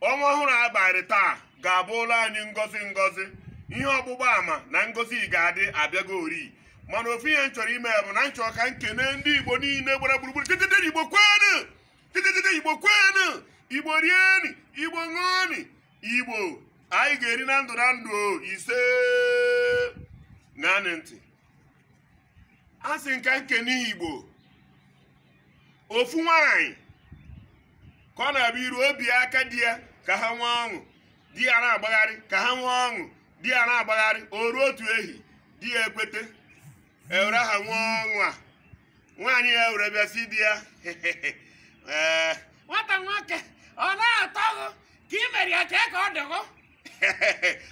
ọnwa ọhụrụ a bara taa ga-abụlụ anyị ngọzi ngọzi ihe ọgbụgba ama na ngọzi ga-adị abịago ori mana ofu ihe m chọrọ ime bụ na m chọrọ ka m kene ndị igbo niile gbara gburugburu titite igbo kwenu titite igbo kwenu igbo rieni igbo ṅụọni igbo anyị ga-eri na ndụ na ndụ o, ise ṅaanị ntị asị m ka m kene igbo ofu nwaanyị ka ọ na-abịa iru obi aka di ya ka ha nwee ọṅụ di ya na-agbagharị ka ha nwee ọṅụ di ya na-agbagharị o ruo otu ehi di ya ekwete ewere ha nwee ọṅụ a nwaanyị ya were bịa sị di ya ee nwata nwoke ọ na-atọ gị ka ị mere ya kee ka ọ dị gị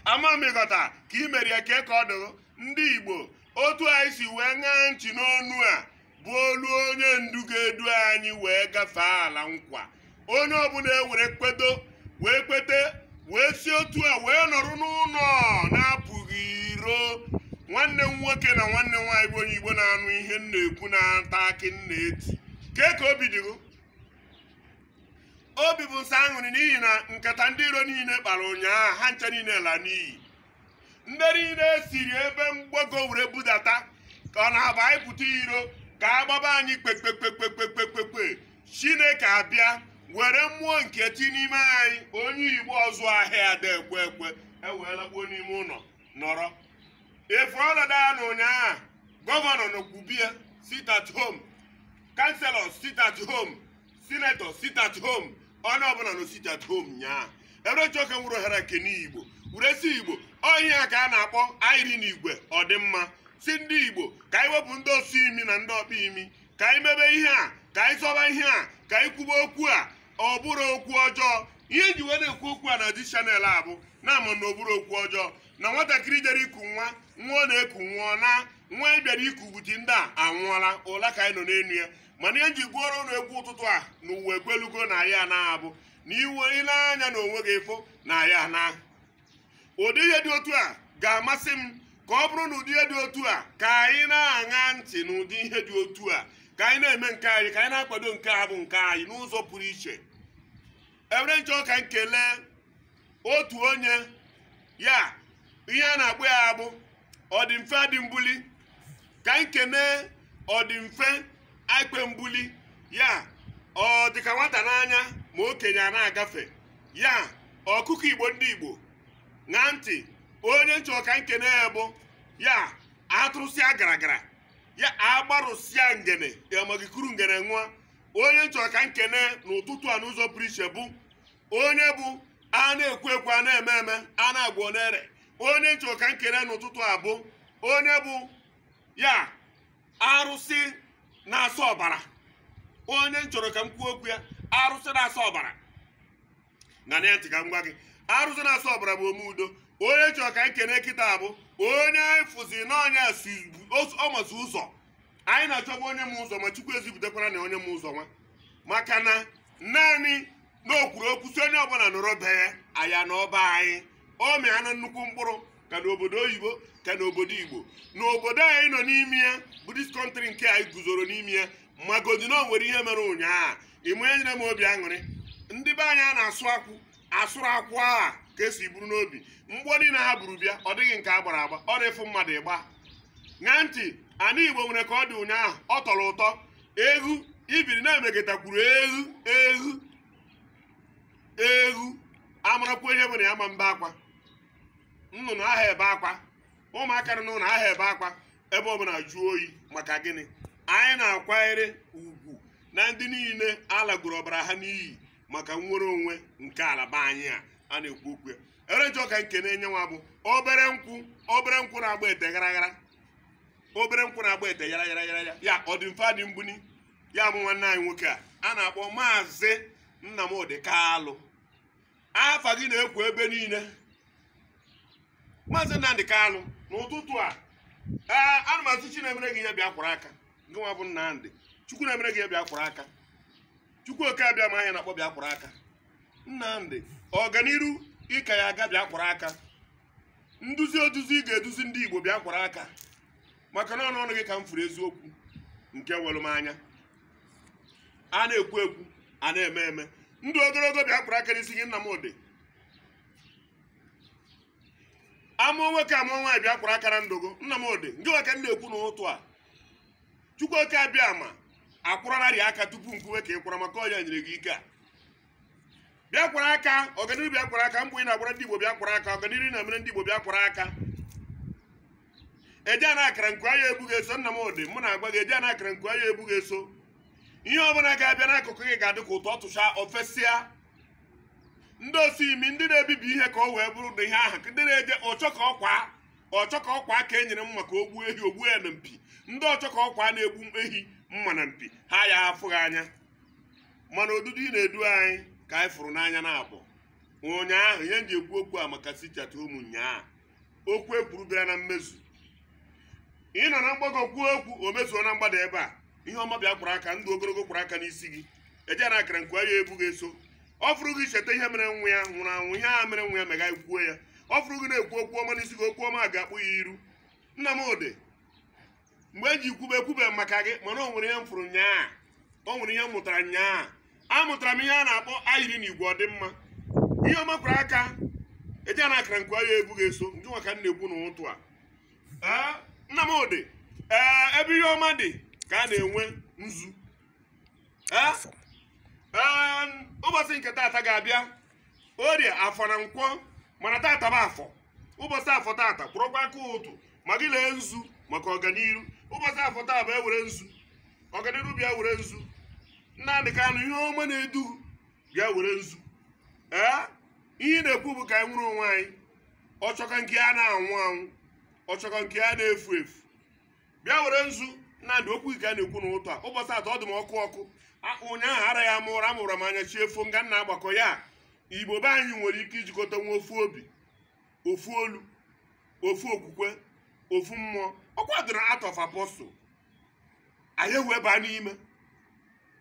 ama m ị ghọta ka ị mere ya kee ka ọ dị gị ndị igbo otu anyị si wee ṅaa ntị n'onu a bụ olu onye ndu ga-edu anyị wee gafee ala nkwa onye ọbụla ewere kwedo wee kwete wee si otu a wee nọrọ n'ụlọ na apụghị iro nwanne m nwoke na nwanne m nwaanyị bụ onye igbo na-anụ ihe m na-ekwu na-ata akị m na-eti kee ka obi dị gị obi bụ m sọ aṅụrị n'ihi na nkata ndị iro niile kpara ụnyaahụ ha ncha niile la n'iyi ndị niile e siri ebe mgbago were budata ka ọ na-abụ anyị pụta iro ka a gbaba anyị kpekpekpekpekpekpekpe chineke abịa were mmụọ nke ti n'ime anyị onye igbo ọzụ ahịa ada ekwe ekwe ewee lakpuo n'ime ụlọ nọrọ ị fụrụ ọnọdụ ya na ụnyaahụ gọvanọ nọkwu be ya sit at home councillors sit at home sinetọ sit at home onye ọbụla nọ sit at home nyaa ewere m chọ ka m were ohere kene igbo were sị igbo ọ ihe a ka a na-akpọ ayiri n'igwe ọ dị mma sị ndị igbo ka anyị wepụ ndị osi imi na ndị ọkpa imi ka anyị mebe ihe a ka anyị zọba ihe a ka anyị kwube okwu a ọ bụrọ okwu ọjọọ ihe m ji wee na-ekwu okwu a na di channel a bụ na ama m na ọ bụrọ okwu ọjọọ na nwatakịrị jere iku nwa nwa ọ na-eku nwụọ ọ naa nwa anyị bịara iku buti ndị a anwụọla ụla ka anyị nọ n'elu ya mana ihe m ji gụọrọ ụnụ egwu ụtụtụ a na ụwa ekwelugo na anyị anaa bụ na i wee nee anya na onwe gị ị fụ na anyị anaa ụdị ihe dị otu a ga-amasị m ka ọ bụrụ na ụdị ihe dị otu a ka anyị na-aṅa ntị na ụdị ihe dị otu a ka anyị na-eme nke anyị ka anyị na-akwado nke a bụ nke anyị n'ụzọ pụrụ iche ewere m chọ ka m kelee otu onye ya ihe a na-akpọ ya bụ ọdịmfe adị mbuli ka m kenee ọdịmfe aikpe mbuli ya ọ dịka nwata n'anya ma okenye a na-agafe ya ọkụkọ igbo ndị igbo ṅaa ntị onye m chọ ka m kenee ya bụ ya atụrụsịa gara gara ya agbarụsịa ngene ya ma ga ikuru ngene ṅụa onye m chọrọ ka m kene n'ụtụtụ a n'ụzọ pụrụ iche bụ onye bụ a na-ekwu ekwu a na-eme eme a na-agwọ ọ na-ere onye m chọrọ ka m kene n'ụtụtụ a bụ onye bụ ya arụsị na-asọ ọbara onye m chọrọ ka m kwuo okwu ya arụsị na-asọ ọbara ṅaa ntị ka m gwa gị arụsị na-asọ ọbara bụ ome udo onye m chọrọ ka anyị kene kịta bụ onye anyị fụzi na ọ nya masị ụzọ anyị na-achọba onye ma ụzọ nwa chukwu ezipụtakwaranụ onye ma ụzọ nwa maka na naanị na o kwuru okwu sị onye ọbụla nọrọ be ya aya na ọba anyị ọ mịanụ nnukwu mkpụrụ ka n'obodo oyibo ka n'obodo igbo n'obodo anyị nọ n'ime ya bụ dis kọntrị nke anyị guzoro n'ime ya magodi na o nwere ihe mere ụnyaahụ ịma ihe nyere m obi aṅụrị ndị be anyị a na-asụ akwụ asụrụ akwụ a ka e si buru n'obi mgbọ niile ha buru bịa ọ dịghị nke a gbara agba ọ na-efu mmadụ ịgba ṅaa ntị ana igbo nwere ka ọ dị ụnyaahụ ọ tọrọ ụtọ eghu ibiri na-emekọtakwuru eghu eghu eghu amarakwa ihe menụ ma na-ebe akwa nnụnụ aha ebe akwa ụmụaka nọ n'ụlọ aha ebe akwa ebe ọ bụla jụọ oyi maka gịnị anyị na-akwanyere ugwu na ndị niile alagoro ọbara ha n'iyi maka nnwere onwe nke ala be anyị a a na-ekwu okwu ya onye m chọ ka m kene nya nwa bụ obere nkwụ obere nkwụ na-agba ete gharaghara obere nkwụ na-agba ete yara yara yara ya ọ dị mfe adị mbuni ya bụ nwanne anyị nwoke a a na-akpọ maazị Nnamdi Kalụ afa gị na-ekwu ebe niile maazị Nnamdi Kalụ n'ụtụtụ a ee ana m asị Chi na-emere gị ihe bịa kwụrụ aka ngị nwa bụ Nnamdi Chukwu na-emere gị ihe bịa kwụrụ aka Chukwu oke abịama anyị na-akpọ bịa kwụrụ aka Nnamdi ọganiru ị ka ya-aga bịa kwụrụ aka nduzi oduzi ị ga-eduzi ndị Igbo bịa kwụrụ aka maka na ọnụ gị ka m fụrụ eziokwu nke were m anya a na-ekwu ekwu a na-eme eme ndụ ogologo bịa kwụrụ aka n'isi gị Nnamdi a mụọ nwoke a mụọ nwaanyị bịa kwụrụ aka na ndụ gị Nnamdi ngị nwa ka m na-ekwu n'ụtụ a Chukwu oke abịama akwụrụnarị aka tupu m kwuwe ka ị kwụrụ maka ọ nya nyere gị ike a bịa kwụrụ aka ọganiru bịa kwụrụ aka mbọ ị na-agbara ndị Igbo bịa kwụrụ aka ọganiru ị na-emere ndị Igbo bịa kwụrụ aka eje na akara nku anya ebughị eso Nnamdi mụ na-agwa gị eje na akara nku anya ebughị eso ihe ọbụla ga-abịa n'akụkụ gị ga-adị ka ụtọ ọ tụcha o fesịa ndị osi imi ndị na-ebibi ihe ka o wee bụrụ na ihe ahụ ndị na-eje ọchọ ka ọkwa ọchọ ka ọkwa ka e nyere mma ka o gbuo ehi o gbuo ya na mpi ndị ọchọ ka ọkwa na-egbu ehi mma na mpi ha ya afụghị anya mana odudu ị na-edu anyị ka anyị fụrụ n'anya na abụ ụnyaahụ ihe m ji ekwu okwu a maka sichata ụmụ nyaa okwu ekwuru bịara na mmezu ị nọ na mgbago kwuo okwu o mezuo na mgbada ebe a ihe ọma bịa kwọrọ aka ndụ ogologo kwọrọ aka n'isi gị eje na akara nka ya ebu gị eso ọ fụrụ gị cheta ihe mere nwa ya nwụrụ anwụ ihe a mere nwa ya mega kwuo ya ọ fụrụ gị na-ekwu okwu ọma n'isi gị okwu ọma ga-akpụ ya iru Nnamdi mgbe eji kwube ekwube maka gị mana o nwere ihe m fụrụ nyaa o nwere ihe m mụtara nyaa amụtara m ihe a na-akpọ ayiri na igwe ọdịmma ihe ọma kwọrọ aka eje na akara nka ya ebu gị eso nke nwa ka m na-ekwu n'ụtụ a Ee, Nnamdi ee ebe ihe ọma dị ka a na-ewe nzu Ee, ee, ụbọchị nke taata ga-abịa orie afọ na nkwọ mana taata bụ afọ ụbọchị afọ tata kwọrọkwa aka ụtụ ma gị lee nzu maka ọganiru ụbọchị afọ taa bịa were nzu ọganiru bịa were nzu nnamdị kanụ ihe ọma na-edu bịa were nzu ee ihe ị na-ekwu bụ ka anyị nwere onwe anyị ọchọka nke a na-anwụ anwụ ọchọka nke a na-efu efu bịa were nzu nnamdị okwu gị ka a na-ekwu n'ụtụ a ụbọchị atọ ọ dị m ọkụ ọkụ ụnyaahụ ara ya mụra amụrụ m anya chi efo nga nna agbakọ ya igbo be anyị nwere ike ijikọta nwee ofu obi ofu olu ofu okwukwe ofu mmụọ ọ kwadoro Acts of Apostle anyị wee baa n'ime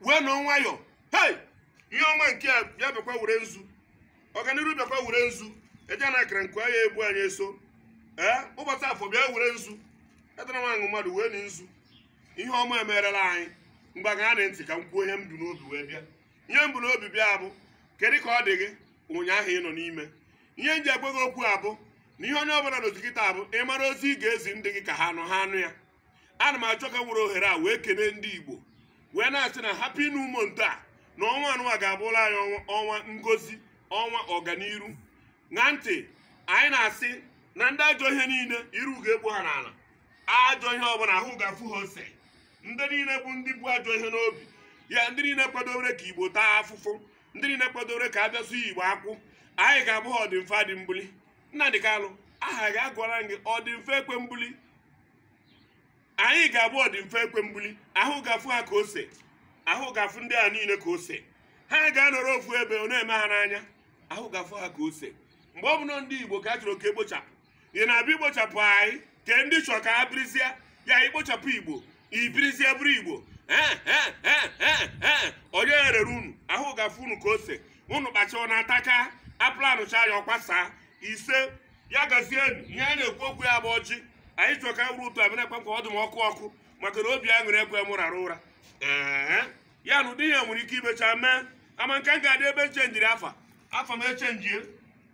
wee nọ nwayọọ hei ihe ọma nke a bịa bịakwa were nzu ọganiru bịakwa were nzu eje na akara nka ya ebu anyị eso ee ụbọchị afọ bịa were nzu edara m aṅụ mmadụ wee na nzu ihe ọma emerela anyị mgbe a ga-aṅa ntị ka m kwuo ihe m bu n'obi wee bịa ihe m bu n'obi bịa abụ kedu ka ọ dị gị ụnyaahụ ị nọ n'ime ihe m ji agwa gị okwu abụ na ihe onye ọbụla nọzi kịta abụ ị mara ozi ị ga-ezi ndị gị ka ha nụ ha anụ ya ana m achọ ka m were ohere a wee kene ndị igbo wee na-asị na happy new month a na ọnwa anụwa ga-abụla anyị ọnwa ngozi ọnwa ọganiru and anyị na-asị na ndị ajọ ihe niile iru ga-ekpu ha n'ala ajọ ihe ọbụla ahụ ga-afụ ha ose ndị niile bụ ndị bu ajọ ihe n'obi ya ndị niile kwadowere ka igbo taa afụfụ ndị niile kwadowere ka a bịasụ igbo akwụ anyị ga-abụ ha ọdịmfe adị mbuli Nnamdi Kanu aha gị a gụrụ gị ọdịmfe ekwe mbuli anyị ga-abụ ọdịmfe ekwe mbuli ahụ ga-afụ ha ka ose ahụ ga-afụ ndị a niile ka ose ha ga-anọrọ ofu ebe ọ na-eme ha n'anya ahụ ga-afụ ha ka ose mgbe ọ bụla ndị igbo ka a chọrọ ka e gbuchapụ ị na-abịa ikpochapụ anyị ka ndị chọrọ ka ha birizie ya ikpochapụ igbo ibirizie bụrụ igbo Eh, eh, eh, onye erere unu ahụ ga-afụ unu ka ose unu kpachaa ọ na-ataka a planụchaa ya ọ kwasaa ise ya gazie ihe a na-ekwu okwu ya bụ ọjị anyị chọrọ ka wuru ụtọ abịa ekwe ka ọ dị m ọkụ ọkụ maka na obi aṅụrị ekwe m rara ụra ee ya na ụdị ihe nwere ike imecha mee ama nke m ga-adị ebe m chenjiri afa afa m echenjie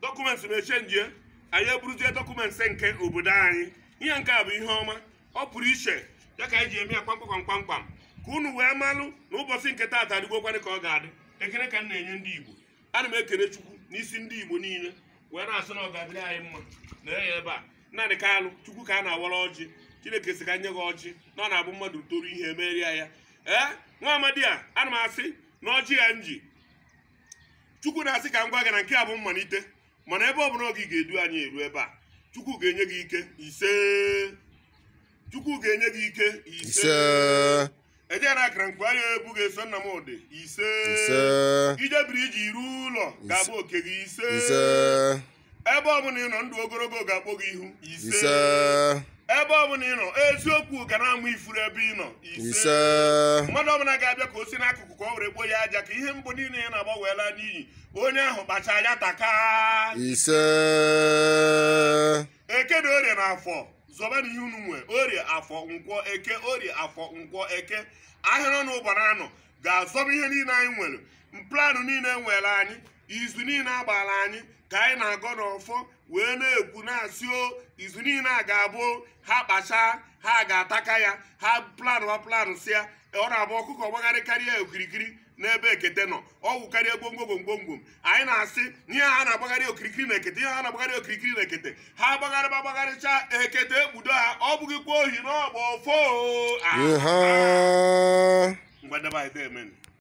dọkụmentị m echenjie anyị eburuzie dọkụmentị nke obodo anyị ihe nke a bụ ihe ọma ọ pụrụ iche ya ka anyị ji eme ya kpamkpam kpamkpam ka unu wee malụ na ụbọchị nke taata adịgokwanị ka ọ ga-adị ekele ka m na-enye ndị igbo ana m ekele chukwu n'isi ndị igbo niile wee na-asị na ọ ga-adịrị anyị mma na ya ebe a Nnamdi Kanu chukwu ka a na-awara ọjị chineke sị ka nye gị ọjị na ọ na-abụ mmadụ toru ihe emeria ya ee nwa amadi a ana m asị na ọjị a m ji chukwu na-asị ka m gwa gị na nke a bụ mmalite mana ebe ọ bụla ọ gị ga-edu anyị eru ebe a chukwu ga-enye gị ike ise chukwu ga-enye gị ike ise ise eje na akara nkwa ya ebu ga-eso Nnamdi ise ise ijebiri iji iru ụlọ ga-abụ oke gị ise ebe ọbụla ị nọ ndụ ogologo ga-akpọ gị ihu ise ebe ọbụla ị nọ eziokwu ga na-amụ ifuru ebe ị nọ ise mmadụ ọbụla ga-abịa ka o si n'akụkụ ka ọ were kpoo ya aja ka ihe mbọ niile ya na-agba wee laa n'iyi onye ahụ kpacha ya taka ise eke na orie na afọ zọba na ihe unu nwe orie afọ nkwọ eke orie afọ nkwọ eke ahịa anọ ụbọchị anọ ga-azọba ihe niile anyị nwere planụ niile e nwere anyị izu niile a gbara anyị ka anyị na-agọ n'ọfọ wee na-ekwu na-asị o izu niile a ga-abụ ha kpachaa ha ga-ataka ya ha planụ ha planụsịa ọ na-abụ ọkụkọ gbagharịkarịa okirikiri n'ebe ekete nọ ọ wụkarịa gwongwo gwongwom anyị na-asị na ihe ha na-agbagharị okirikiri na ekete ihe ha na-agbagharị okirikiri na ekete ha gbagharịba gbagharịcha ekete ekpudo ha ọ bụghịkwa ohi n'ọgba ọfọ o. Ah, Ihe. ngwa ndị be anyị deemenụ.